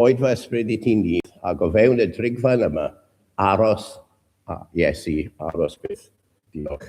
Oed fy ysbryd i ti'n nyth, ac o fewn y drigfaen yma, aros, a, Iesu, aros byth. Diolch.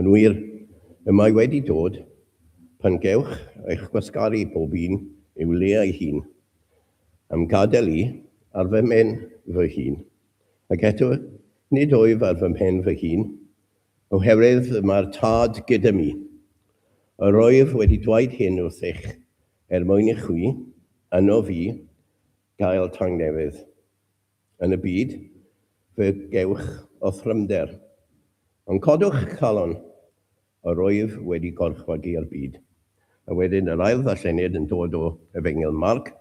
Yn wir, y mae wedi dod, pan gewch eich gwasgaru pob un i'w le ei hun, a'm gadael i ar fy mhen fy hun, ac eto nid wyf ar fy mhen fy hun, oherwydd y mae'r Tad gyda mi. Yr wyf wedi dweud hyn wrthych, er mwyn i chwi, yno fi, gael tangnefedd. Yn y byd, fe gewch orthrymder, ond codwch calon, a rwyf wedi gorchfygu'r byd. A wedyn yr ail ddarlleniad yn dod o Efengyl Marc,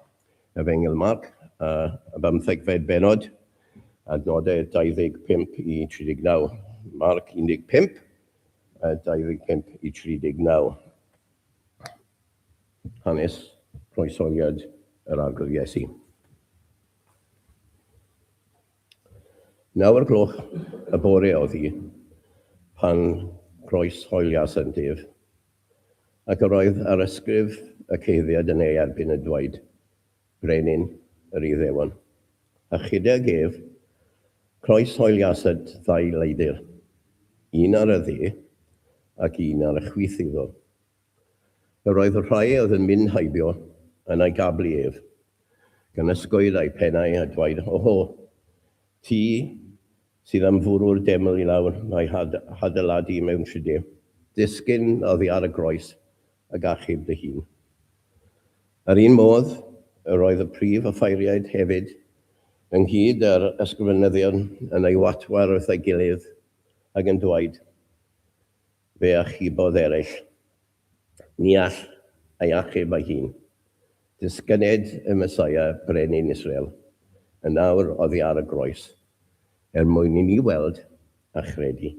Efengyl Marc, y bymthegfed bennod, adnodau 25 i 39. Marc 15, 25 i 39. Hanes croeshoeliad yr Arglwydd Iesu. Naw o'r gloch y bore oedd hi pan groeshoelias yntef, ac yr oedd arysgrif y ceiddiad yn ei erbyn yn dweud, Brenin yr Iddewon. A chydag ef, croeshoeliasant ddau leidr, un ar y dde ac un ar y chwith iddo, Yr oedd y rhai a oedd yn mynd heibio yn ei gablu ef, gan ysgoedd eu pennau a dwaed, Oho! Ti sydd am fwrw'r deml i lawr a'i hadeiladu mewn tride, disgyn oddi ar y groes ag achub dy hun. Yr un modd, yr oedd y prif offeiriaid hefyd, ynghyd â'r ysgrifenyddion, yn ei watwar wrth ei gilydd, ac yn dwaed, Fe achubodd eraill. Ni all ei achub ei hun. Disgyned y Mesaia, Brenin Israel, yn nawr oddi ar y groes, er mwyn i ni weld a chredu.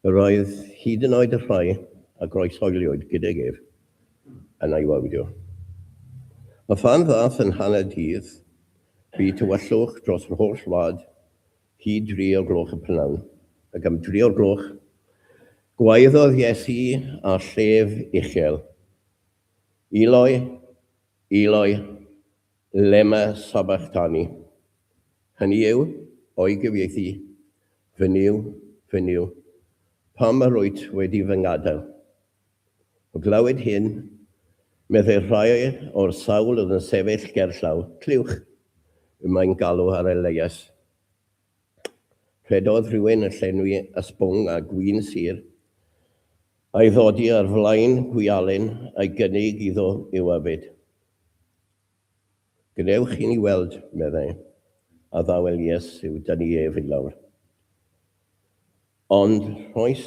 Yr oedd hyd yn oed y rhai a groeshoeliwyd gydag ef yn ei wawdio. A phan ddaeth yn hanner dydd, bu tywyllwch dros yr holl wlad, Hyd dri o gloch y prynawn. Ac am dri o'r gloch, gwaeddodd Iesu â llef uchel, Eloi, Eloi, lema sabachthani? Hynny yw, o'i gyfieithu, Fy Nuw, fy Nuw, pam yr wyt wedi fy ngadael? O glywed hyn, meddai rhai o'r sawl oedd yn sefyll gerllaw, Clywch! Y mae'n galw ar Elias. Rhedodd rhywun yn llenwi ysbwng â gwin sur, a'i ddodi ar flaen gwialen a'i gynnig iddo yw yfed. Gwnewch i ni weld, meddai, a ddawel Iesu, da ni ef i lawr. Ond rhoes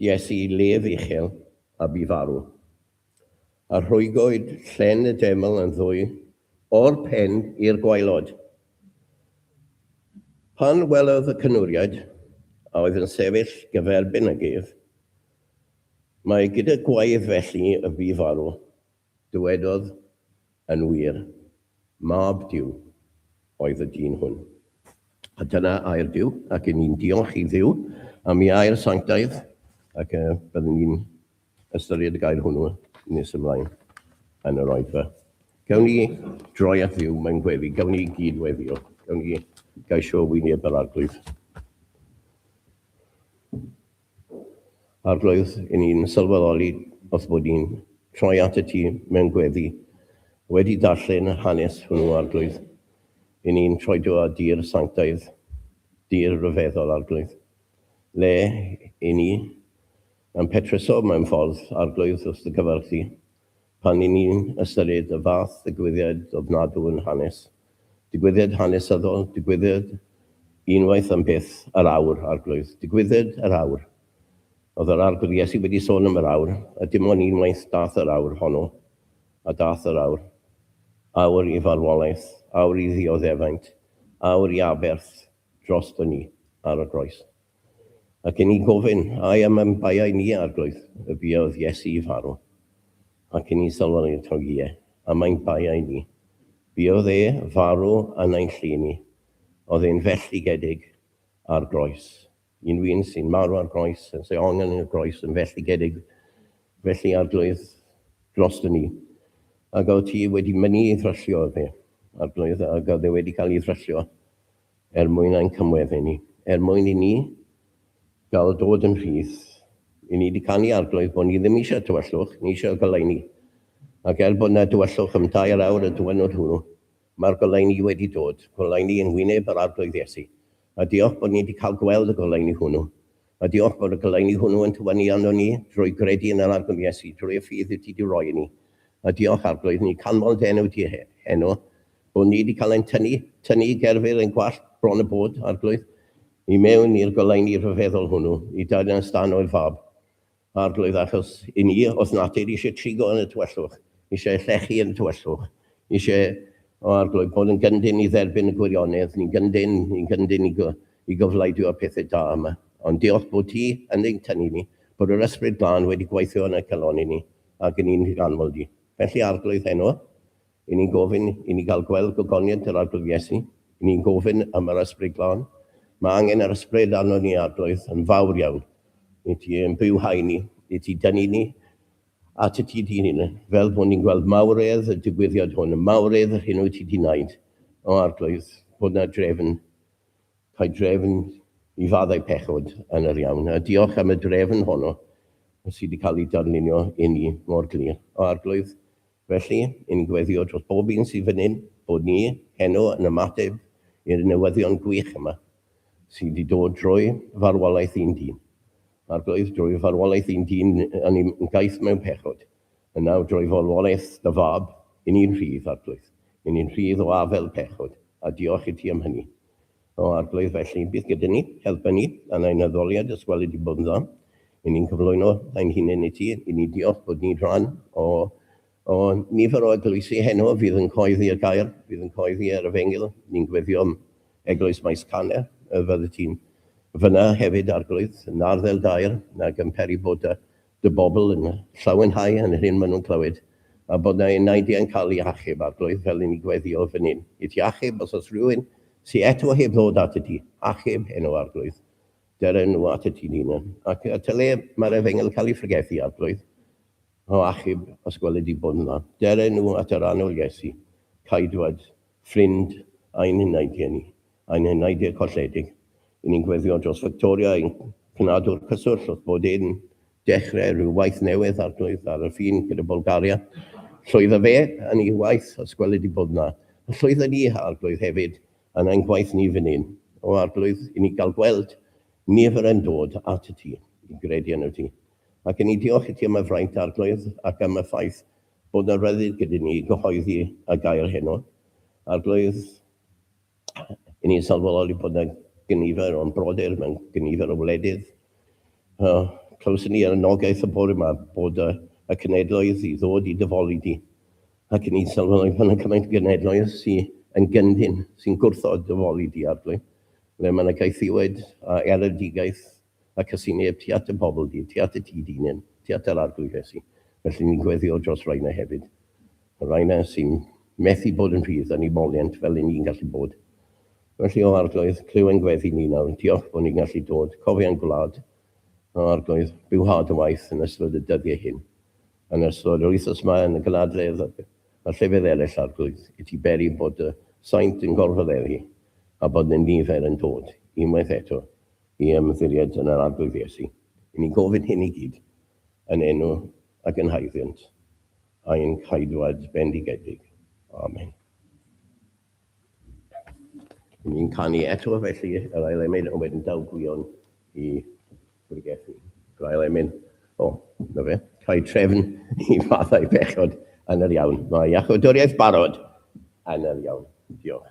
Iesu i lef uchel, a bu farw. A rhwygoed llen y deml yn ddwy, o'r pen i'r gwaelod. Pan welodd y cynwriaid, a oedd yn sefyll gyferbyn ag ef, mae gyda gwaedd felly y bu farw, Dywedodd, Yn wir, mab Duw oedd y dyn hwn. A dyna air Duw, ac yn ni'n diolch i Dduw am ei air sanctaidd, ac y byddwn ni'n ystyried y gair hwnnw nes ymlaen yn yr oedfa. Gawn ni droi at Dduw mewn gweddi, gawn ni gyd-weddio, gawn ni gaisio wyneb yr Arglwydd. Arglwydd, i ni'n sylweddoli wrth bod ni'n troi at y Ti mewn gweddi, wedi darllen y hanes hwnnw, Arglwydd, i ni'n troi Do a Di'r sanctaidd, Di'r rhyfeddol, Arglwydd, le i ni yn petruso mewn ffordd, Arglwydd, wrth Dy gyfarch Di, pan i ni'n ystyried y fath ddigwyddiad ofnadw yn hanes. Digwyddiad hanesyddol, digwyddiad unwaith am byth, yr awr, Arglwydd. Digwyddiad yr awr. Oedd yr Arglwydd Iesu wedi sôn am yr awr, a dim ond unwaith dath yr awr honno, a dath yr awr. Awr i farwolaeth, awr i ddioddefaint, awr i aberth drosto ni ar y groes. Ac i ni gofyn, ai am ein baiau ni, Arglwydd, y buodd Iesu i farw? Ac i ni sylweddoli eto, ie, am ein baiau ni. Buodd e farw yn ein llu ni. Oedd e'n felltigedig ar groes. Unrhyw un sy'n marw ar groes, yn sy'n ongen yn y groes, yn felltigedig. Felly, Arglwydd, dros ni. Ac oedd ti wedi mynd i ddryllio, oedd e, Arglwydd, ac oedd e wedi cael ei ddryllio er mwyn ein cymweddu ni, er mwyn i ni gael dod yn rhydd. I ni wedi canu i Arglwydd bod ni ddim eisiau tywyllwch, ni eisiau goleuni. Ac er bod yna dywyllwch am dair awr y diwrnod hwnnw, mae'r goleuni wedi dod, goleuni yng ngwyneb yr Arglwydd Iesu. A diolch bod ni wedi cael gweld y goleuni hwnnw. Mae dy ormod o goleuni hwnnw yn tywynnu arnon ni drwy gredu yn yr arglwydd Iesu, drwy y ffydd wyt ti 'di roi i ni. A diolch, Arglwydd, ni'n canmol dy enw di heno, bod ni 'di cael ein tynnu, tynnu i gerfydd ein gwallt bron a bod, Arglwydd, i mewn i'r goleuni rhyfeddol hwnnw, i daearnasd dan oer fab. Arglwydd, achos i ni, os natur eisiau trigo yn y tywyllwch, eisiau llechu yn y tywyllwch, eisiau, o Arglwydd, bod yn gyndyn i dderbyn y gwirionedd, ni'n gyndyn, ni'n gyndyn i, i gyflaidio'r pethau da yma. Ond diolch bod ti yn ein tynnu ni, bod yr Ysbryd Glân wedi gweithio yn ein calon i ni, ac yn i'n higanfod i. Felly, Arglwydd, heno, I ni'n gofyn i ni gael gweld gogoniant yr Arglwydd Iesu, i ni'n gofyn am yr Ysbryd Glân. Mae angen yr Ysbryd arnon ni, Arglwydd, yn fawr iawn, i Ti ein byw hau ni, i Ti dynnu ni at y Ti Dy Hun, fel bod ni'n gweld mawredd y digwyddiad hwn, y mawredd yr hyn wyt Ti Di wneud, o Arglwydd, bod na drefn, cael drefn i faddau pechod yn yr iawn. A diolch am y drefn honno sydd wedi cael ei darlunio i ni mor glir. O Arglwydd, Felly, yn gweddio dros bob un sydd fan hyn, bod ni heno yn ymateb i'r newyddion gwych yma, sydd wedi dod drwy farwolaeth un dyn. Ar goedd, drwy farwolaeth un dyn, a ni yn gaeth mewn pechod, yn nawr drwy farwolaeth dy Fab, yn ni'n rhydd, Arglwydd, yn ni'n rhydd o afel pechod, a diolch i ti am hynny. O Arglwydd, felly, bydd gyda ni, helpa ni, dan ein addoliad os gwelid i bod yn dda, i ni'n cyflwyno ein hunain i ti, i ni diolch bod ni'n rhan o, o, nifer o eglwysi heno fydd yn coeddi y gair, fydd yn coeddi yr efengyl, ni'n gweddio am Eglwys Maes Caner, y fyddet ti'n fyna hefyd, Arglwydd, yn arddel daer, nag yn peri boda, dy bobl yn llawenhau yn yr hyn maen nhw'n clywed, a bod na enaidi yn cael eu hachub, Arglwydd, fel i ni gweddio fan hyn i ti achub, os oes rhywun sy eto heb ddod atat ti, achub e nhw, Arglwydd, dere nhw atat ti'n hunan, ac at y le mae'r efengyl yn cael ei phregethu, Arglwydd, o achub, os gweled di bod yn dda, dere nhw at yr annwyl Iesu, Caedwad ffrind ein enaid geni, ein enaid eu colledig, i ni'n gweddio dros Fictoria i'n cnadw'r cyswllt wrth bod e'n dechrau rhyw waith newydd, Arglwydd, ar y ffin gyda Bwlgaria. Llwydda fe yn ei waith, os gweli di bod 'na, a llwydda ni, Arglwydd, hefyd, yn ein gwaith ni fan hyn. O, Arglwydd, i ni gael gweld nifer yn dod at y ti, i gredu yno ti. Ac i ni diolch i ti am y fraint, Arglwydd, ac am y ffaith Bod yna ryddid gyda ni i gyhoeddi y gair heno. Arglwydd, i ni'n sylweddol i bod yna gynifer o'n brodyr mewn gynifer o wledydd. Uh, clywson ni ar y nogaeth y bore yma bod y, y cenedloedd i ddod i dyfoli di. Ac i ni'n sylweddol i bod yna cymaint o genedloedd sy'n yn gyndyn, sy'n gwrthod dyfoli di, Arglwydd. Le mae yna gaethiwed a eredigaeth Mae casineb tu at dy bobl di, tu at y ti dy hunain, tu at yr Arglwydd Iesu. Felly ni'n gweddïo dros rai 'na hefyd. Y rai 'na sy'n methu bod yn rhydd yn eu moliant fel y ni'n gallu bod. Felly, o Arglwydd, clyw ein gweddi ni nawr. Diolch bod ni'n gallu dod. Cofia ein gwlad. O Arglwydd, byw ha dy waith yn ystod y dyddiau hyn. Yn ystod yr wythnos 'ma yn y gynadledd a llefydd eraill, Arglwydd, i ti beri bod dy saint yn gorfod eri a bod 'na nifer yn dod, unwaith eto, i ymddiried yn yr Arglwydd Iesu. I ni gofyn hyn i gyd, yn enw a gynhaeddiant ein Caedwad bendigedig. Amen. Yn ni'n canu eto felly yr ail emyn ond wedyn daw gwion i bregethyn. Yr ail emyn, o, na fe, cael trefn i fathau pechod yn yr iawn. Mae iachodoriaeth barod yn yr iawn. Diolch.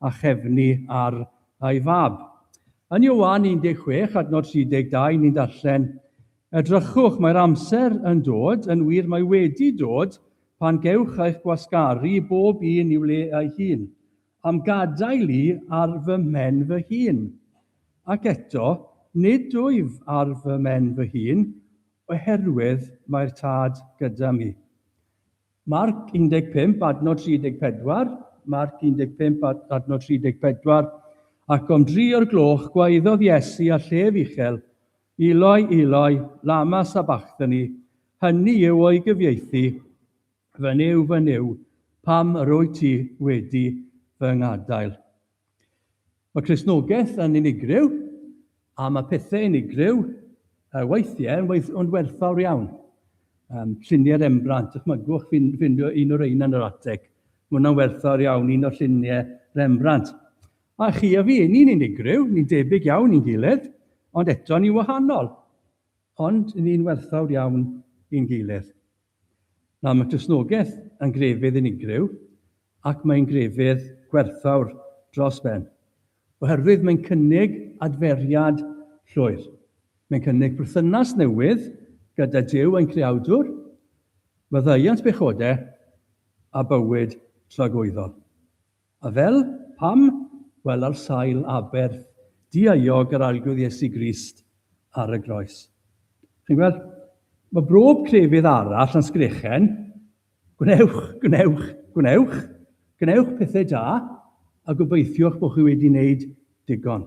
a chefnu ar ei fab. Yn Ioan 16, adnod 32, ni'n darllen, Edrychwch, mae'r amser yn dod, yn wir mae wedi dod, pan gewch eich gwasgaru bob un i'w le ei hun, am gadael i ar fy mhen fy hun. Ac eto, nid wyf ar fy mhen fy hun, oherwydd mae'r Tad gyda mi. Marc 15 adnod 34, Marc 15 adnod 34, Ac om dri o'r gloch gwaeddodd Iesu â llef uchel, Eloi, Eloi, lama sabachthani, hynny yw o'i gyfieithu, Fy Nuw, fy Nuw, pam yr wyt ti wedi fy ngadael? Mae Cristnogaeth yn unigryw, a mae pethau unigryw weithiau yn werthfawr iawn. Lluniau Rembrandt, dychmygwch ffindio un o'r rheina yn yr ateg. Mae hwnna'n werthfawr iawn, un o'r lluniau Rembrandt. A chi a fi, ni'n unigryw, ni'n debyg iawn i'n gilydd, ond eto ni'n wahanol. Ond ni'n werthfawr iawn i'n gilydd. Mae mae Cristnogaeth yn grefydd unigryw ac mae'n grefydd gwerthfawr dros ben, oherwydd mae'n cynnig adferiad llwyr. Mae'n cynnig perthynas newydd gyda Duw ein Creawdwr, maddeuant pechodau a bywyd tragwyddol. A fel? Pam? Wel, ar sail aberth dieuog yr Arglwydd Iesu Grist ar y groes. Chi'n gweld? Mae brob crefydd arall yn sgrechen, gwnewch, gwnewch, gwnewch, gwnewch pethau da, a gobeithiwch bod chi wedi wneud digon.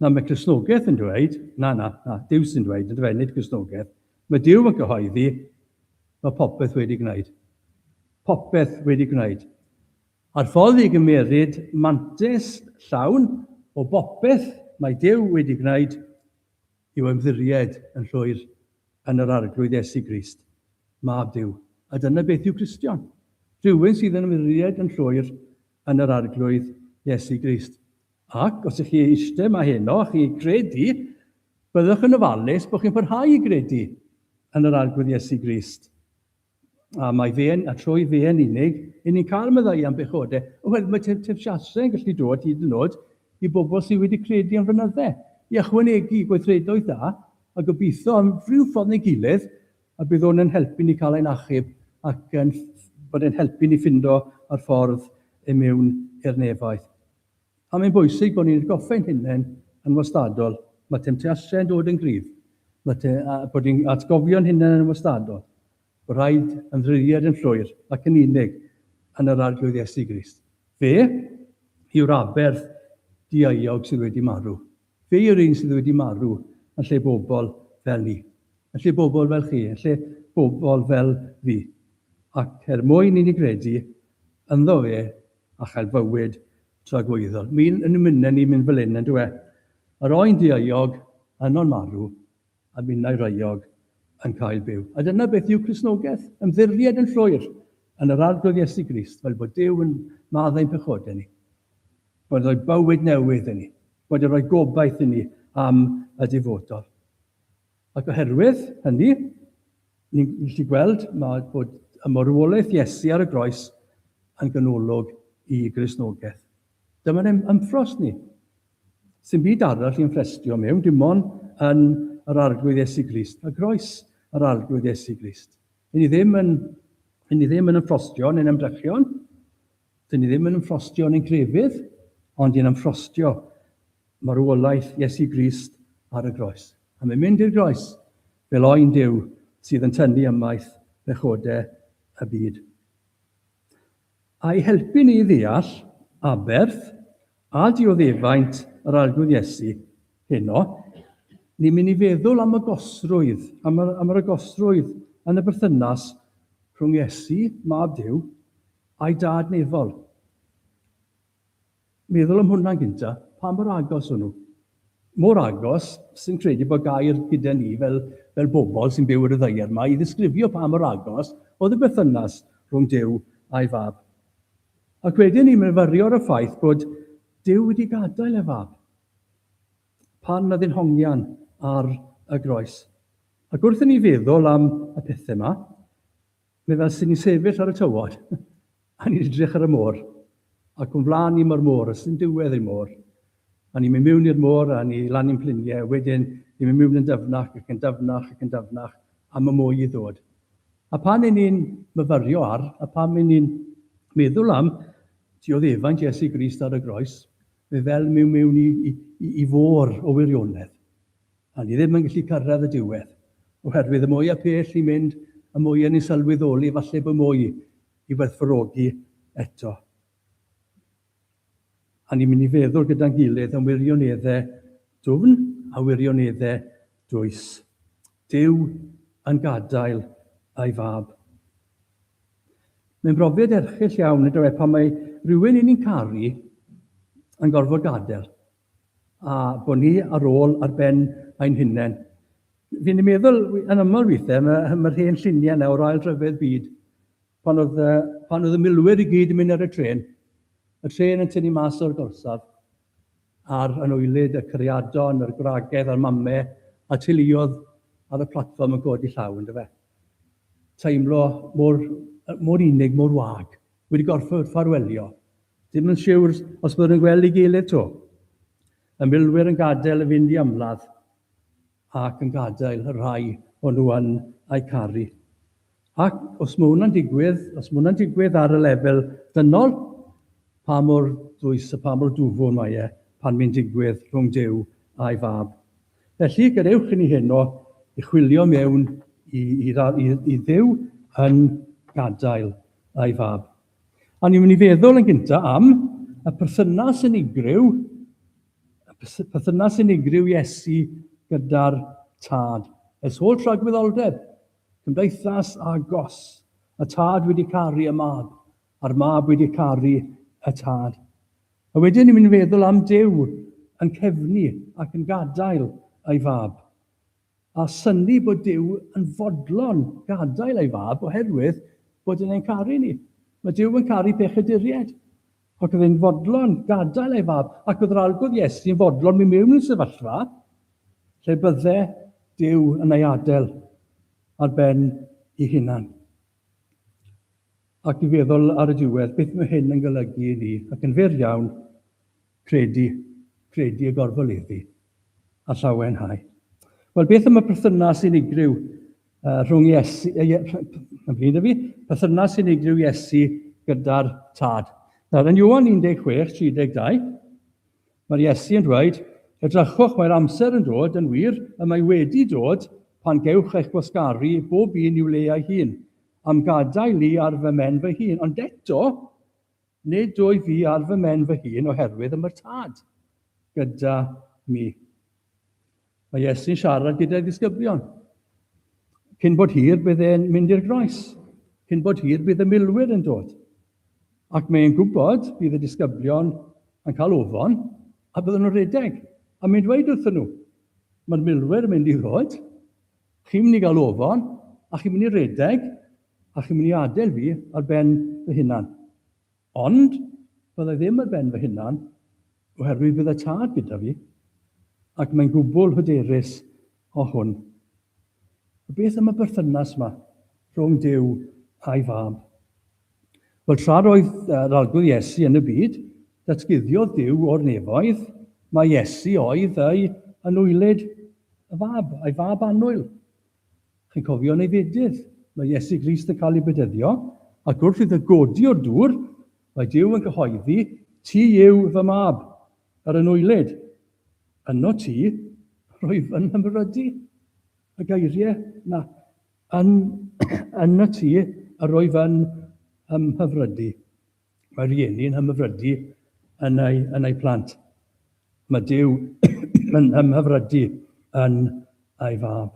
Na, mae Cristnogaeth yn dweud, na, na, na, Duw sy'n dweud, yn dweud, nid Cristnogaeth. Mae Duw yn cyhoeddi, mae popeth wedi gwneud. Popeth wedi gwneud. A'r ffordd i gymeryd mantis llawn o bopeth mae Duw wedi gwneud yw ymddiried yn llwyr yn yr Arglwydd Iesu Grist, Mab Duw. A dyna beth yw Cristion. Rhywun sydd yn ymddiried yn llwyr yn yr Arglwydd Iesu Grist. Ac os ych chi eistedd 'ma heno a chi'n credu, byddwch yn ofalus bod chi'n parhau i gredu yn yr Arglwydd Iesu Grist. A mae fe'n, a trwy fe'n unig, i ni'n cael meddai am bechodau. Wel, mae tefsiasau yn gallu dod hyd yn oed i bobl sydd wedi credu am fynydde, i ychwanegu gweithredoedd da, a gobeithio am rhyw ffordd neu gilydd, a bydd hwn yn helpu ni cael ein achub ac yn bod yn helpu ni ffindo ar ffordd i mewn i'r nefaith. Pam mae'n bwysig bod ni'n atgoffa ein hunain yn wastadol, mae temtasiau yn dod yn gryf, mae te, a bod ni'n atgofio'n hunain yn wastadol bod rhaid ymddiriead yn llwyr ac yn unig yn yr Arglwydd Iesu Grist. Fe yw'r aberth dieuog sydd wedi marw. Fe yw'r un sydd wedi marw yn lle bobl fel ni, yn lle bobl fel chi, yn lle bobl fel fi. Ac er mwyn i ni gredu ynddo fe, a chael bywyd tragwyddol. Mi'n yn ymynne ni mynd fel hyn, yn dywe? Yr oen dieuog yno'n marw, a minnau reuog yn cael byw. A dyna beth yw Cristnogaeth, ymddiried yn llwyr yn yr Arglwydd Iesu Grist, fel bod Duw yn maddau ein pechodau ni, bod yn rhoi bywyd newydd i ni, bod yn rhoi gobaith i ni am y dyfodol. Ac oherwydd hynny, ni'n gallu gweld mae bod y marwolaeth Iesu ar y groes yn ganolog i Gristnogaeth. Dyma'n ein ymffros ni. Sy'n byd arall i'n ffrestio mewn, dim ond yn yr Arglwydd Iesu Grist a groes yr Arglwydd Iesu Grist. Yn ni ddim yn, yn ni ddim yn ymffrostio neu'n ymdrechion, Dyn ni ddim yn ymffrostio yn ein crefydd, ond yn ymffrostio marwolaeth Iesu Grist ar y groes. A mae'n mynd i'r groes fel oen Duw sydd yn tynnu ymaith bechodau y byd. A'i helpu ni i ddeall aberth a dioddefaint yr arglwydd Iesu heno, ni'n mynd i feddwl am y gosrwydd, am yr, am yr agosrwydd yn y berthynas rhwng Iesu, Mab Duw, Ai dad neu fol? Meddwl am hwnna'n gynta, pa mor agos o'n nhw? Mor agos, sy'n credu bod gair gyda ni fel, fel bobl sy'n byw ar y ddaear yma i ddisgrifio pa mor agos oedd y berthynas rhwng Duw a'i fab. Ac wedyn ni'n myfyrio ar y ffaith bod Duw wedi gadael ei fab pan oedd yn hongian ar y groes. Ac wrth i ni feddwl am y pethau yma, Fe fas ni'n sefyll ar y tywod, a ni'n edrych ar y môr, ac o'n flaen ni mae'r môr, a sdim diwedd i'r môr. A ni'n mynd miwn i'r môr, a ni lan i'n pliniau, a wedyn ni'n mynd miwn yn dyfnach, ac yn dyfnach, ac yn dyfnach, a mae mwy i ddod. A pan yn ni'n myfyrio ar, a pan yn ni'n meddwl am dioddefaint Iesu Grist ar y groes, fe fel miwn miwn i, i, i, i fôr o wirionedd. A ni ddim yn gallu cyrraedd y diwedd, oherwydd y mwy a pell ni'n mynd, y mwy a ni'n sylweddoli falle bod mwy i werthfawrogi eto. A ni'n mynd i feddwl gyda'n gilydd am wirioneddau dwfn a wirioneddau dwys. Dyw yn gadael ei fab. Mae'n brofiad erchyll iawn, ynddo e, pan mae rhywun i ni'n caru yn gorfod gadael. a bod ni ar ôl ar ben ein hunain. Fi'n ei meddwl yn aml weithiau, mae, mae'r hen lluniau nawr o ail dryfedd byd, pan oedd, pan oedd y milwyr i gyd yn mynd ar y tren, y tren yn tynnu mas o'r gorsaf, a'r anoelyd, y cariadon, yr gwragedd a'r mame, a teuluodd ar y platfform yn codi llaw, ynddo fe. Teimlo mor, mor unig, mor wag, wedi gorfod ffarwelio. Ddim yn siwr os byddwn yn gweld ei gilydd 'to. Y milwyr yn gadael y fynd i ymladd ac yn gadael y rhai o'n nhw yn eu caru. Ac os mae hwnna'n digwydd, os mae hwnna'n digwydd ar y lefel dynol, pa mor ddwys a pa mor dwfwn mae e pan mae'n digwydd rhwng Duw a'i Fab. Felly, gadewch i ni heno i chwilio mewn i, i, i, i Dduw yn gadael a'i Fab. A ni'n mynd i feddwl yn gyntaf am y perthynas unigryw, y perthynas unigryw Iesu gyda'r tad. Ers holl ragwyddoldeb, cymdeithas a gos, y tad wedi caru y mab, a'r mab wedi caru y tad. A wedyn ni'n mynd i feddwl am Dyw yn cefnu ac yn gadael ei fab. a synnu bod Duw yn fodlon gadael ei fab oherwydd bod yn ein caru ni. Mae Duw yn caru pechaduriaid, ac oedd e'n fodlon gadael ei fab, ac oedd yr algwdd Iesu yn fodlon mynd mewn i'r sefyllfa lle bydde Duw yn ei adael ar ben ei hunan. Ac i feddwl ar y diwedd, beth mae hyn yn golygu i ni, ac yn fyr iawn, Credu, credu y gorfoleddu, a llawenhau. Wel, beth am y perthynas unigryw uh, rhwng Iesu, yn bryd fi, perthynas unigryw Iesu gyda'r tad. Nawr, yn Iwan 16, 32, mae'r Iesu yn dweud, edrychwch, mae'r amser yn dod, yn wir, y mae wedi dod, pan gewch eich gwasgaru bob un i'w le ei hun, am gadael i ar fy men fy hun. Ond eto, Nid wyf i ar fy mhen fy hun oherwydd y mae'r Tad gyda mi. Mae Iesu'n siarad gyda'i ddisgyblion. Cyn bod hir bydd e'n mynd i'r groes. Cyn bod hir bydd y milwyr yn dod. Ac mae'n gwybod bydd y disgyblion yn cael ofon a byddwn nhw'n rhedeg. A mae'n dweud wrthyn nhw, mae'r milwyr yn mynd i ddod, Chi'n mynd i gael ofon, a chi'n mynd i redeg, a chi'n mynd i adael fi ar ben fy hunan. Ond bydda i ddim ar ben fy hunan, oherwydd bydd y Tad gyda fi, ac mae'n gwbl hyderus o hwn. A beth am y berthynas yma rhwng Duw a'i Fab? Wel, tra roedd yr Arglwydd Iesu yn y byd, datguddiodd Duw o'r nefoedd mai Iesu oedd ei anwylyd y Fab, ei Fab annwyl. Chi'n cofio yn ei fedydd, mae Iesu Grist yn cael ei bedyddio, ac wrth iddo godi o'r dŵr, mae Duw yn cyhoeddi, Ti yw fy Mab, yr anwylyd. Yno ti, roedd yn hymrydu. Y geiriau yna, Yn, yn y tŷ, yr wyf yn ymhyfrydu. Mae rhieni yn hymhyfrydu yn eu, yn eu plant. Mae Duw yn ymhyfrydu yn ei fab.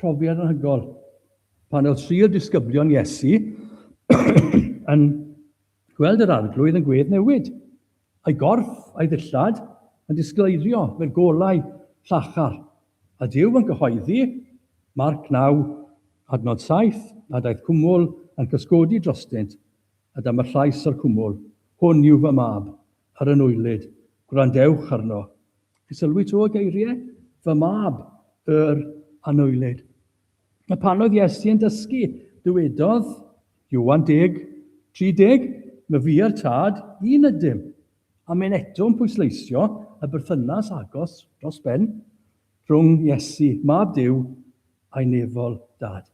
Profiad anhygol. Pan oedd tri o disgyblion Iesu yn Gweld yr Arglwydd yn gwedd newid, a'i gorff a'i ddillad yn disgleirio mewn golau llachar, a Duw yn cyhoeddi, Marc 9, adnod 7, a daeth cwmwl yn cysgodi drostynt, a dyma llais yr cwmwl, Hwn yw fy Mab, yr Anwylyd, gwrandewch arno. Sylwi 'to y geiriau, fy Mab, yr Anwylyd. A pan oedd Iesu yn dysgu, dywedodd, Ioan 10, 30, na fi a'r Tad, un ydym. A mae'n eto'n pwysleisio y berthynas agos dros ben rhwng Iesu, Mab Duw, a'i nefol Dad.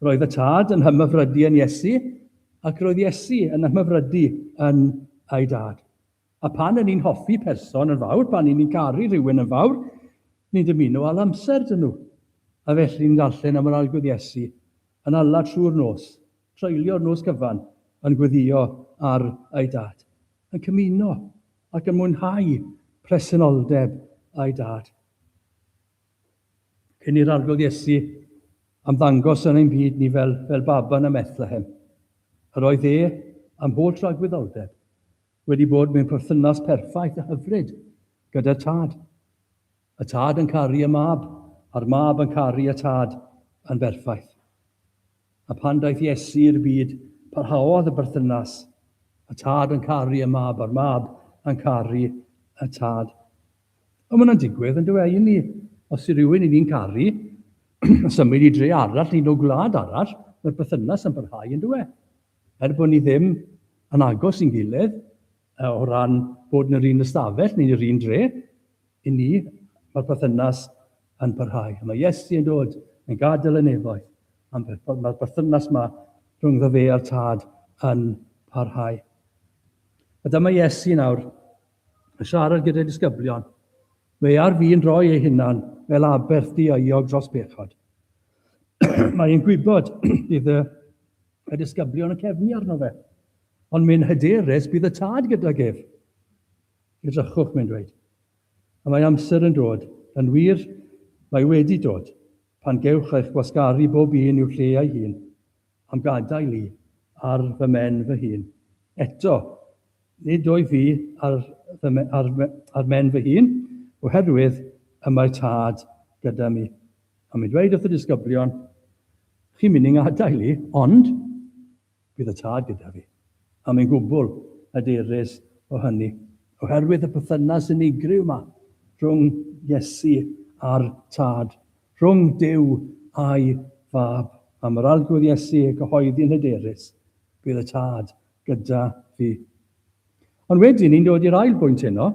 Roedd y Tad yn hymhyfrydu yn Iesu, ac roedd Iesu yn hymhyfrydu yn ei Dad. A phan yn ni'n hoffi person yn fawr, pan yn ni'n caru rhywun yn fawr, ni'n dymuno all amser dyn nhw. A felly ni'n darllen am yr Arglwydd Iesu yn ala trwy'r nos, treulio'r nos cyfan yn gweddïo ar ei Dad, yn cymuno ac yn mwynhau presenoldeb ei Dad. Cyn i'r Arglwydd Iesu ymddangos yn ein byd ni fel, fel baban ym Methlehem, yr oedd e am holl dragwyddoldeb, wedi bod mewn perthynas perffaith a hyfryd gyda'r tad. Y tad yn caru y mab, a'r mab yn caru y tad yn berffaith. A pan daeth Iesu i'r byd, parhaodd y berthynas, y tad yn caru y mab a'r mab yn caru y tad. Ond mae'n digwydd, yn dweud i ni, os yw rhywun i ni'n caru, symud i dre arall neu o gwlad arall, mae'r berthynas yn parhau, yn dweud. Er bod ni ddim yn agos i'n gilydd o ran bod yn yr un ystafell neu'n yr un dre, i ni, mae'r perthynas yn parhau. A mae Iesu yn dod, yn gadael y nefoedd, a mae'r perthynas yma rhyngddo fe a'r Tad yn parhau. A dyma Iesu nawr yn siarad gyda'i disgyblion. Mae ar fi'n rhoi ei hunan fel aberth diaeog dros bechod. Mae e'n gwybod bydd y Y disgyblion yn cefnu arno fe. Ond mae'n hyderus bydd y tad gydag ef. Edrychwch, mae'n dweud. A mae amser yn dod, yn wir, mae wedi dod, pan gewch eich gwasgaru bob un i'w lle ei hun, am gadael i ar fy men fy hun. Eto, nid o'i fi ar, ar, ar men fy hun, oherwydd y mae tad gyda mi. A mae'n dweud wrth y disgyblion, Chi'n mynd i'n ngadael i, ond bydd y tad gyda fi. A mae'n gwbl hyderus o hynny, oherwydd y perthynas unigryw yma rhwng Iesu a'r Tad, rhwng Duw a'i Fab. Am yr Arglwydd Iesu y cyhoeddi'n hyderus, Bydd y tad gyda fi. Ond wedyn ni'n dod i'r ail bwynt heno,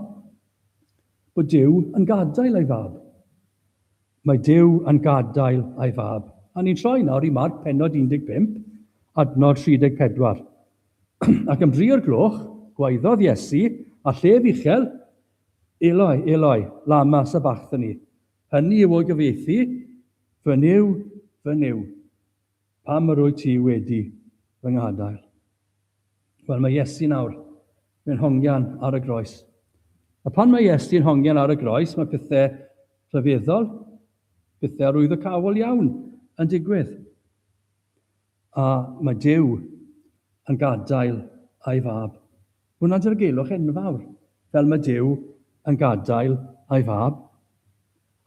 bod Duw yn gadael ei Fab. Mae Duw yn gadael ei fab. A ni'n troi nawr i Marc pennod 15, adnod 34. Ac am dri o'r gloch, gwaeddodd Iesu, a llef uchel, Eloi, Eloi, lama sabachthani? Hynny yw o'i gyfieithu, Fy Nuw, fy Nuw, pam yr wyt ti wedi fy nghadael? Wel, mae Iesu nawr mewn hongian ar y groes. A pan mae Iesu'n hongian ar y groes, mae pethau rhyfeddol, pethau arwyddocaol iawn yn digwydd. A mae Dyw yn gadael a'i fab Hwnna'n dirgelwch enfawr, fel mae Duw yn gadael a'i fab.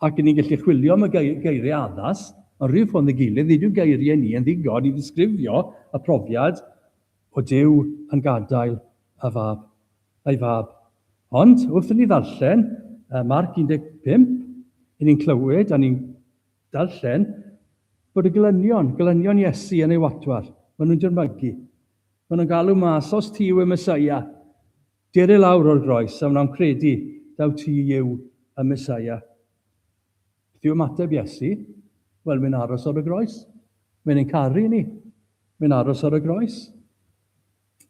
Ac ni'n gallu chwilio am y geiriau addas, ond rhyw ffordd neu gilydd, nid yw geiriau ni yn ddigon i ddisgrifio y profiad o Duw yn gadael a fab, a'i fab. Ond, wrth i ni ddarllen Marc 15, i ni'n clywed a ni'n darllen bod y gelynion, gelynion Iesu yn ei watwar, maen nhw'n dirmygu. Maen nhw'n galw mas, os ti yw y Mesaia, dur i lawr o'r groes, a wnawn credu taw ti yw y Mesaia. Beth yw ymateb Iesu? Wel, mae'n aros ar y groes. Mae'n ein caru ni. Mae'n aros ar y groes.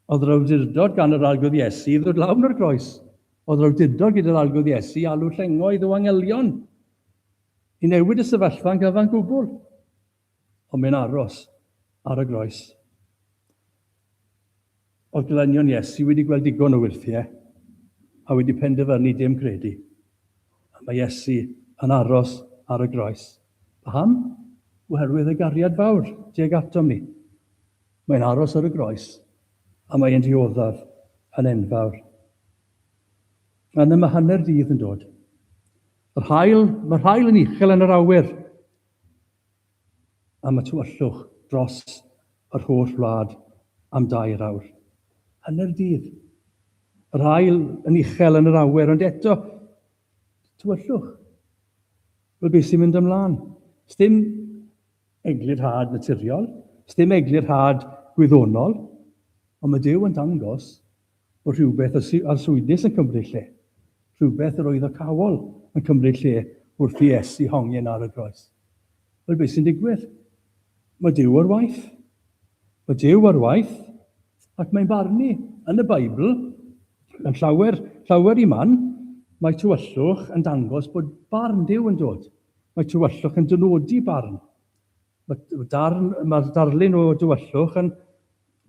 Oedd yr awdurdod gan yr arglwydd Iesu i ddod lawr o'r groes. Oedd yr awdurdod gyda'r arglwydd Iesu i alw llengoedd o angelion i newid y sefyllfa'n gyfan gwbl. Ond mae'n aros ar y groes. Oedd glanio'n Iesu wedi gweld digon o wyrthiau a wedi penderfynu dim credu. A mae Iesu yn aros ar y groes. Paham? Oherwydd y gariad fawr tuag atom ni. Mae'n aros ar y groes a mae'n dioddef yn enfawr. Yna mae hanner dydd yn dod. Yr hael, mae'r hael yn uchel yn yr awyr. am y tywyllwch dros yr holl wlad am dair awr. Hanner dydd. Yr haul yn uchel yn yr awyr, ond eto, tywyllwch. Wel, beth sy'n mynd ymlaen? Sdim eglurhad naturiol, sdim eglurhad gwyddonol, ond mae Dyw yn dangos o rhywbeth y arswydus yn cymryd lle, rhywbeth yr oedd y cawl yn cymryd lle wrth i Iesu hongian ar y groes. Wel, beth sy'n digwydd? Mae Duw ar waith. Mae Duw ar waith, ac mae'n barnu yn y Beibl, yn llawer, llawer i man, mae tywyllwch yn dangos bod barn Duw yn dod. Mae tywyllwch yn dynodi barn. Mae darn, mae'r darlun o dywyllwch yn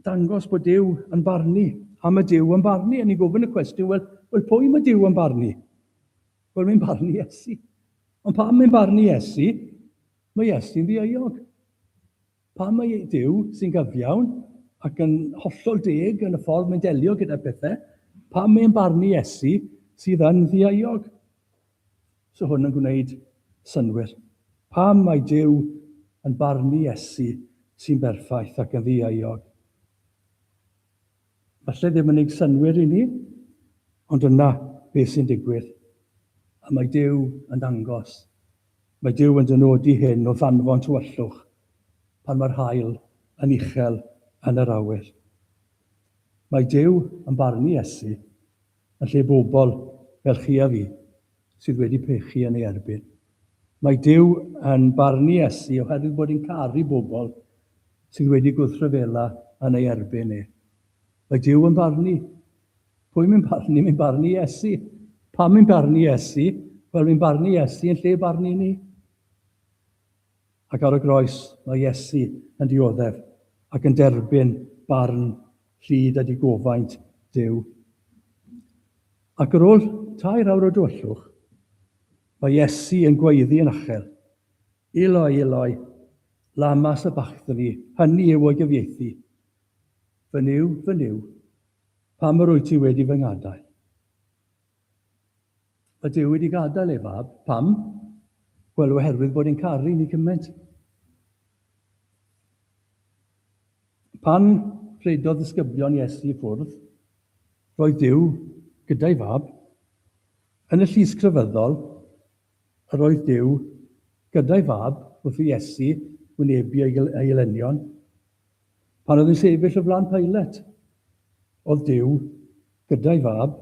dangos bod Duw yn barnu. A mae Duw yn barnu, a ni'n gofyn y cwestiwn, wel, wel pwy mae Duw yn barnu? Wel, mae'n barnu Iesu. Ond pam mae'n barnu Iesu? Mae Iesu'n ddieuog. Pam mae Duw sy'n gyfiawn ac yn hollol deg yn y ffordd mae'n delio gyda pethau, pam mae'n barnu Iesu sydd yn ddieuog? 'S hwn yn gwneud synnwyr? Pam mai Duw yn barnu Iesu sy'n berffaith ac yn ddieuog? Falle ddim yn neud synnwyr i ni, ond yna beth sy'n digwydd. A mae Duw yn dangos. Mae Duw yn dynodi hyn o ddanfon tywyllwch pan mae'r haul yn uchel yn yr awyr. Mae Duw yn barnu Iesu. Yn lle bobl fel chi a fi, sydd wedi pechu yn ei erbyn. Mae Duw yn barnu Iesu oherwydd bod e'n caru bobl sydd wedi gwrthryfela yn ei erbyn e. Mae Duw yn barnu. Pwy mae'n barnu? Mae'n barnu Iesu. Pam mae'n barnu Iesu? Wel, mae'n barnu Iesu yn lle barnu ni. Ac ar y groes, mae Iesu yn dioddef ac yn derbyn barn Ffydd a digofaint, Duw. Ac ar ôl tair awr o dywyllwch, mae Iesu yn gwaeddu yn achel, Eloi, Eloi, lama sabachthani, hynny yw o'i gyfieithu, Fy Nuw, fy Nuw, pam yr wyt ti wedi fy ngadael? Mae Duw wedi gadael ei fab. Pam? Wel, oherwydd bod e'n caru ni cymaint. Pan rhedodd ddisgyblion Iesu i ffwrdd, roedd Duw gyda'i fab. Yn y llys crefyddol, yr oedd Duw gyda'i fab wrth i Iesu wynebu ei elynion. Pan oedd yn sefyll o flan Pilate, oedd Duw gyda'i fab.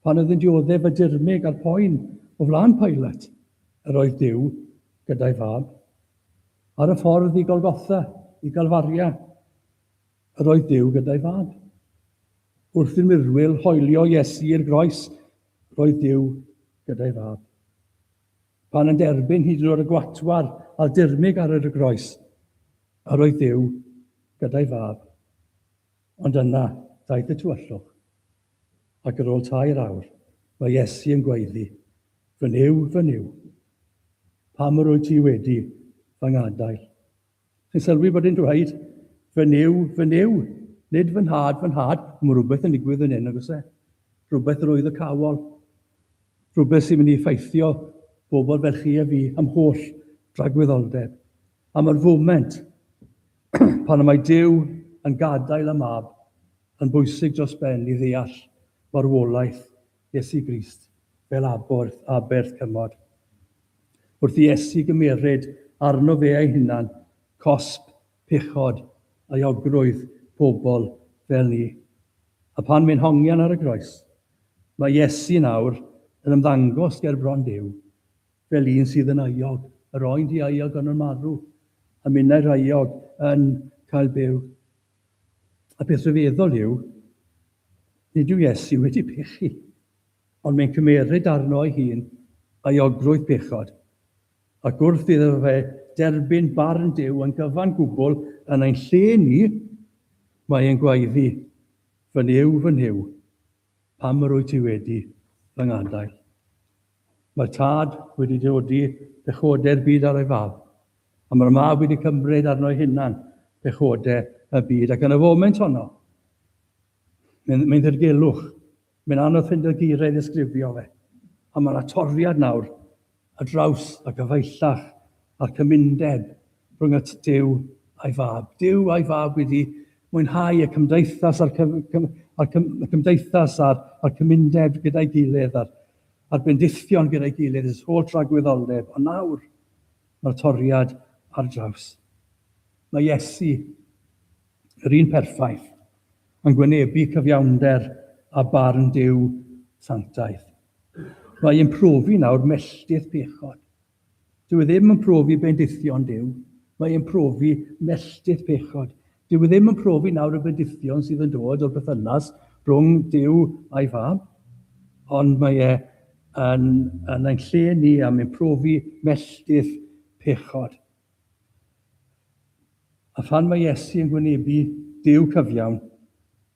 Pan oedd yn dioddef y dirmyg a'r poen o flan Pilate, yr oedd Duw gyda'i fab. Ar y ffordd i Golgotha, i Galfaria, yr oedd Duw gyda'i fab. Wrth i'r mirwyl hoelio Iesu i'r groes, roedd Duw gyda'i fab. Pan yn derbyn hyd yn oed y gwatwar a dirmyg ar yr y groes, yr oedd Duw gyda'i fab. Ond yna, daeth y tywyllwch, ac yr ôl tair awr, mae Iesu yn gwaeddi, Fy Nuw, fy Nuw, pam yr wyt ti wedi fy ngadael? Chi'n sylwi bod e'n dweud, fy Nuw, fy Nuw, nid fy nhad, fy nhad. Mae rhywbeth yn digwydd fan hyn, oes e? Rhywbeth arwyddocaol. Rhywbeth sy'n mynd i effeithio bobl fel chi a fi am holl dragwyddoldeb. A mae'r foment pan y mae Duw yn gadael y mab yn bwysig dros ben i ddeall marwolaeth Iesu Grist fel aborth aberth cymod. Wrth i Iesu gymeryd arno fe ei hunan cosb, pechod, euogrwydd pobl fel ni. A phan fe'n hongian ar y groes, mae Iesu nawr yn ymddangos ger bron Duw fel un sydd yn euog, yr oen di-euog ond yn marw, a minnau rheuog yn cael byw. A peth rhyfeddol yw, nid yw Iesu wedi pechu, ond mae'n cymeryd arno ei hun euogrwydd pechod, ac wrth iddo fe derbyn barn Duw yn gyfan gwbl yn ein lle ni, mae e'n gwaeddi, Fy Nuw, fy Nuw, Pam yr wyt ti wedi fy ngadael? Mae'r tad wedi dodi pechodau'r byd ar ei fab, a mae'r mab wedi cymryd arno ei hunan pechodau y byd. Ac yn y foment honno, mae'n mae ddirgelwch. Mae'n anodd ffeindio geiriau i ddisgrifio fe. A mae yna toriad nawr ar draws a gyfeillach a'r cymundeb rhwng y tŷ a'i fab. Dyw a'i fab wedi mwynhau y cymdeithas a'r cymdeithas a'r cymundeb gyda'i gilydd a'r bendithion gyda'i gilydd ers holl dragwyddoldeb, ond nawr mae'r toriad ar draws. Mae Iesu, yr un perffaith, yn gwynebu cyfiawnder a barn Duw sanctaidd. Mae yn profi nawr melltith pechod. Dyw e ddim yn profi bendithion Duw, mae yn profi melltith pechod. Dyw e ddim yn profi nawr y bendithion sydd yn dod o'r bythynas rhwng Duw a'i fab, ond mae e yn, yn ein lle ni am yn profi melltith pechod. A phan mae Iesu yn gwynebu Duw cyfiawn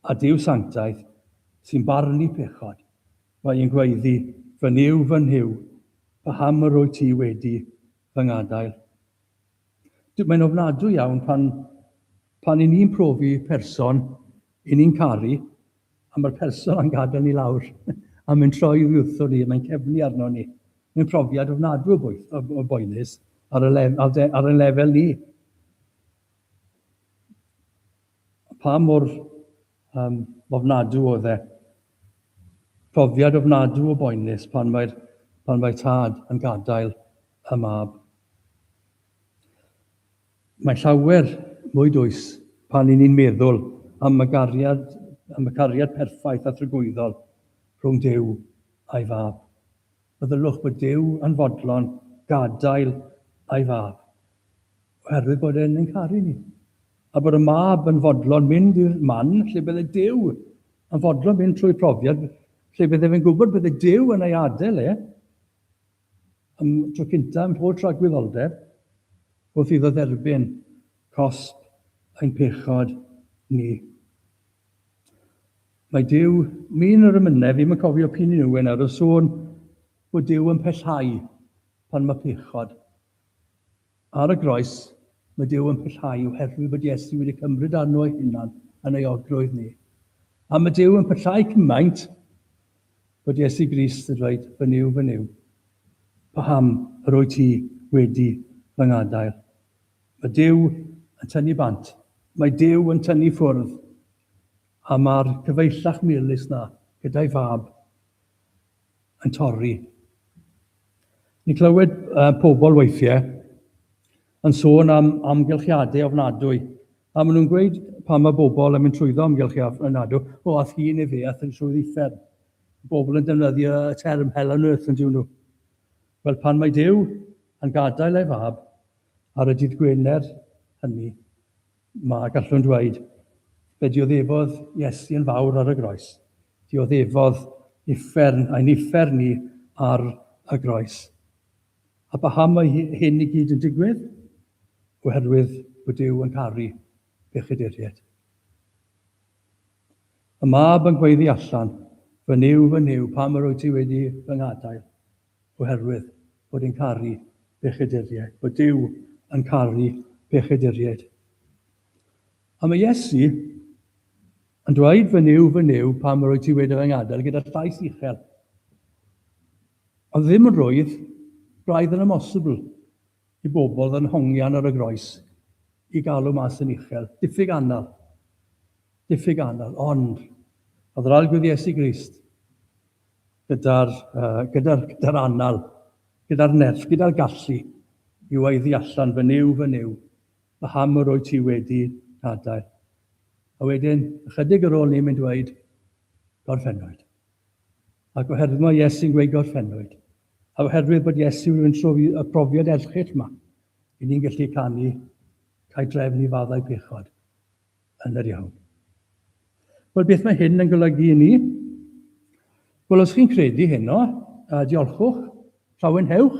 a Duw sanctaidd sy'n barnu pechod, mae e'n gwaeddi, Fy Nuw, fy Nhuw, paham yr wyt ti wedi fy ngadael? D mae'n ofnadwy iawn pan, pan 'yn ni'n profi person 'yn ni'n caru A mae'r person a'n gadael ni lawr, a mae'n troi i wrtho ni, mae'n cefnu arno ni. Mae'n profiad ofnadw o boenus ar y lef, ar, ar y lefel ni. Pa mor um, ofnadw oedd e? Profiad ofnadw o boenus pan mae'r pan mae tad yn gadael y mab. Mae llawer mwy dwys pan y'n ni'n meddwl am y gariad, am y cariad perffaith a thragwyddol rhwng Duw a'i Fab. Meddyliwch bod Duw yn fodlon gadael a'i Fab oherwydd bod e'n ein caru ni, a bod y Mab yn fodlon mynd i'r man lle bydde Duw yn fodlon mynd trwy profiad lle bydde fe'n gwybod bydde Duw yn ei adael e. Am y tro cyntaf yn mhob tragwyddoldeb, wrth iddo dderbyn cosb ein pechod ni. Mae Duw, mi'n yr ymynedd, ddim yn cofio pini nhw yn ar y sôn bod Duw yn pellhau pan mae pechod. Ar y groes, mae Duw yn pellhau oherwydd bod Iesu wedi cymryd arno ei hunan yn ei orgrwydd ni. A mae Duw yn pellhau cymaint bod Iesu Grist yn dweud, Fy Nuw, fy Nuw, paham yr wyt ti wedi fy ngadael? Mae Duw yn tynnu bant. Mae Duw yn tynnu ffwrdd. A mae'r cyfeillach melys na gyda'i Fab yn torri. Ni'n clywed uh, pobl weithiau yn sôn am amgylchiadau ofnadwy, a maen nhw'n gweud pan mae bobl yn mynd trwyddo amgylchiadau ofnadwy, o, ath hi neu fe, ath yn trwy'r uffern. Bobl yn defnyddio y term hell on earth yn diwn nhw. Wel, pan mae Dyw yn gadael ei fab ar y dydd Gwener hynny, Mae, gallwn ddweud, fe dioddefodd Iesu yn fawr ar y groes. Dioddefodd uffern, ein uffern ni, ar y groes. A paham mae hyn i gyd yn digwydd? Oherwydd bod Duw yn caru pechaduriaid. Y mab yn gweiddi allan, Fy Nuw, fy Nuw, pam yr wyt ti wedi fy nghadael? Oherwydd bod yn caru pechaduriaid. Bod Duw yn caru pechaduriaid. A mae Iesu yn dweud, fy niw, fy niw, pam rwyt ti wedi fy ngadael gyda llais uchel. Ond ddim yn rwydd, braidd yn amosibl i bobl fy nhongian ar y groes i galw mas yn uchel. Diffyg anal. Diffyg anal. Ond, a ddral gwyd Iesu Grist, gyda'r uh, gyda'r gyda'r anal, gyda'r nerth, gyda'r gallu i waeddi allan fy niw, fy niw, paham yr oed ti wedi cadair. A wedyn, ychydig ar ôl ni mynd dweud, gorffennwyd. Ac oherwydd mae Iesu'n gweud gorffennwyd, a oherwydd bod Iesu yn trofi y profiad erchill yma, i ni'n gallu canu, cael drefn i faddau pechod. Hanner iawn. Wel, beth mae hyn yn golygu i ni? Wel, os chi'n credu heno, a diolchwch, llawenhewch,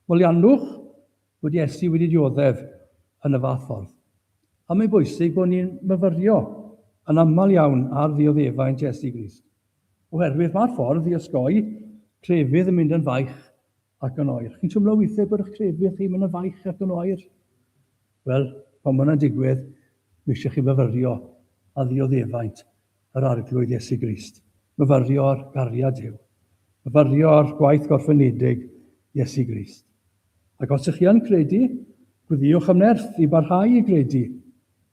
moliannwch bod Iesu wedi dioddef yn y fath ffordd. A mae'n bwysig bod ni'n myfyrio yn aml iawn ar ddioddefaint Iesu Grist, oherwydd mae'r ffordd i osgoi crefydd yn mynd yn faich ac yn oer. Chi'n teimlo weithiau bod eich cefndir chi mynd yn faich ac yn oer? Wel, pan mae hwnna'n digwydd, mae eisiau chi fyfyrio a ddioddefaint yr Arglwydd Iesu Grist. Myfyrio'r gariad Duw. Myfyrio'r gwaith gorffenedig Iesu Grist. Ac os ych chi yn credu, gwyddiwch am nerth i barhau i gredu.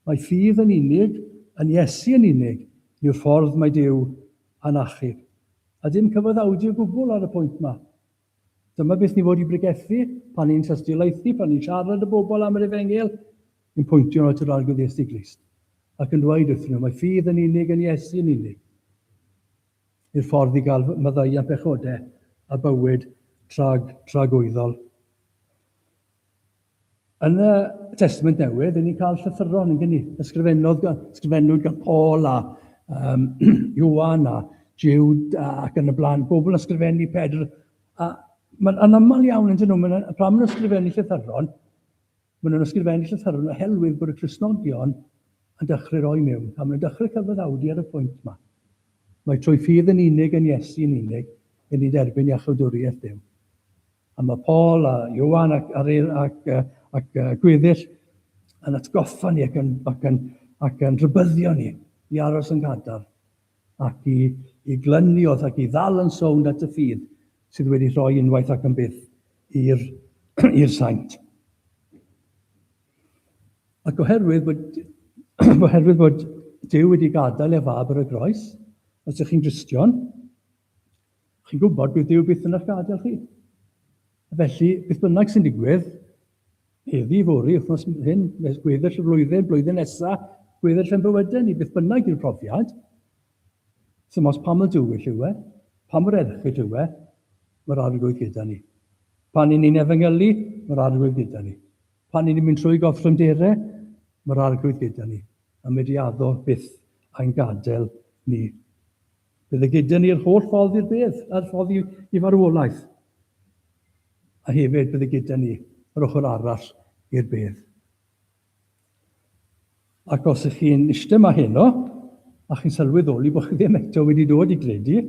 Mae ffydd yn unig, yn Iesu yn unig, yw'r ffordd mae Duw anarchaidd. A dim cyfaddawdu o gwbl ar y pwynt 'ma. Dyma beth ni'n fod i bregethu pan ni'n tystiolaethu, pan ni'n siarad â bobl am yr Efengyl, ni'n pointio nhw at yr Arglwydd Iesu Grist ac yn dweud wrthyn nhw mai ffydd yn unig yn Iesu yn unig yw'r ffordd i gael maddeuant pechodau a bywyd trag, tragwyddol. Yn y Testament Newydd, ni'n cael llythyron, yn gynnu, ysgrifennodd, ysgrifennwyd gan Paul a um, Iwan a Jude ac yn y blaen, bobl yn ysgrifennu Pedr. A mae'n anaml iawn yn dyn nhw, mae'n, pan maen nhw'n ysgrifennu llythyron, maen nhw'n ysgrifennu llythyron oherwydd bod y Cresnogion yn dechrau roi mewn, a maen nhw'n dechrau cyfaddawdu ar y pwynt yma. Mae trwy ffydd yn unig yn Iesu yn unig, yn ni'n derbyn iachawdwriaeth Dyw. A mae Paul a Ioan ac, ac, ac, ac, ac gweddill yn atgoffa ni ac yn, ac yn, ac yn rhybyddio ni i aros yn gadar ac i, i glynu wrth ac i ddal yn sownd at y ffydd sydd wedi rhoi unwaith ac yn byth i'r, i'r saint. Ac oherwydd bod, oherwydd bod Dyw wedi gadael ef fab ar y groes, os ydych chi'n Gristion, Chi'n gwybod bydd Duw byth yn eich gadael chi. Felly, beth bynnag sy'n digwydd, heddi, fori, wythnos hyn, gweddill y flwyddyn, blwyddyn nesaf, gweddill yn bywydau ni, beth bynnag yw'r profiad, sy'n os pam y dywyll yw e, pa mor erchyll yw e, mae'r arglwydd gyda ni. Pan ni'n ni'n efengylu, mae'r arglwydd gyda ni. Pan ni'n mynd trwy goffrynderau, mae'r arglwydd gyda ni. A mae di addo byth a'n gadael ni. Bydd e gyda ni'r holl ffordd i'r bedd, a'r ffordd i, i farwolaeth. A hefyd bydd e gyda ni yr ochr arall i'r bedd. Ac os ych chi'n eistedd yma heno, a chi'n sylweddoli bod chi ddim eto wedi dod i gredu,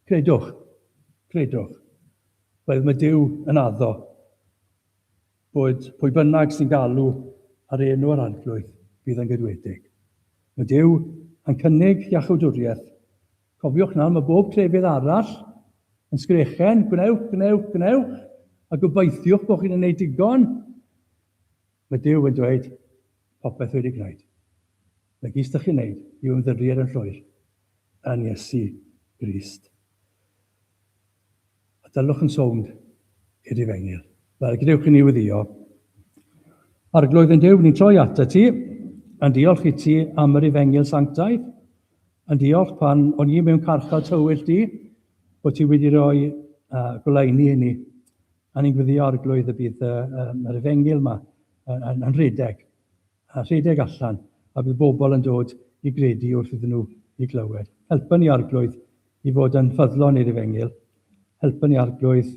credwch, credwch, roedd mae Dyw yn addo Boed pwy bynnag sy'n galw ar enw yr Arglwydd, bydd yn gydwedig. Mae Duw yn cynnig iachawdwriaeth. Cofiwch nawr, mae bob crefydd arall yn sgrechen, gwnewch, gwnewch, gwnewch, a gobeithiwch bod chi'n gwneud digon. Mae Duw yn dweud, popeth wedi gwneud. Mae gys ydych chi'n gwneud yw ymddiried yn llwyr yn Iesu Grist. A dylwch yn sownd i'r difengil. Wel, gadewch i ni weddio. Arglwydd yn Duw, ni'n troi ata ti, yn diolch i ti am yr ifengil sanctaidd, yn diolch pan o'n i mewn carchar tywyll di, bod ti wedi rhoi uh, goleini i ni. A ni'n gweddio arglwydd y bydd uh, um, yr ifengil yma yn, yn, yn rhedeg. a rhedeg allan, a bydd bobl yn dod i gredu wrth iddyn nhw eu clywed. Helpa ni, Arglwydd, i fod yn ffyddlon i'r Efengyl. Helpa ni, Arglwydd,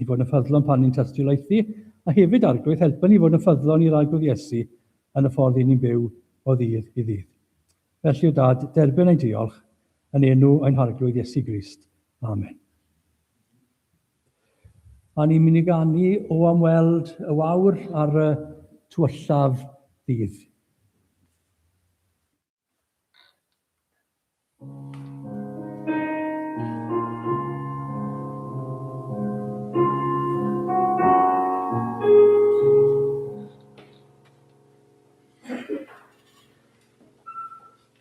i fod yn ffyddlon pan ni'n tystiolaethu, a hefyd, Arglwydd, helpa ni i fod yn ffyddlon i'r Arglwydd Iesu yn y ffordd i ni'n byw o ddydd i ddydd. Felly, o Dad, derbyn ein diolch, yn enw ein Harglwydd Iesu Grist. Amen. A ni'n mynd i ganu o am weld y wawr ar y tywyllaf ddydd.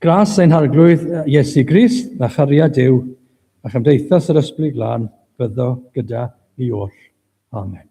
Gras ein harglwydd Iesu Grist, a chariad Duw, a chymdeithas yr Ysbryd Glân, byddo gyda ni oll. Amen.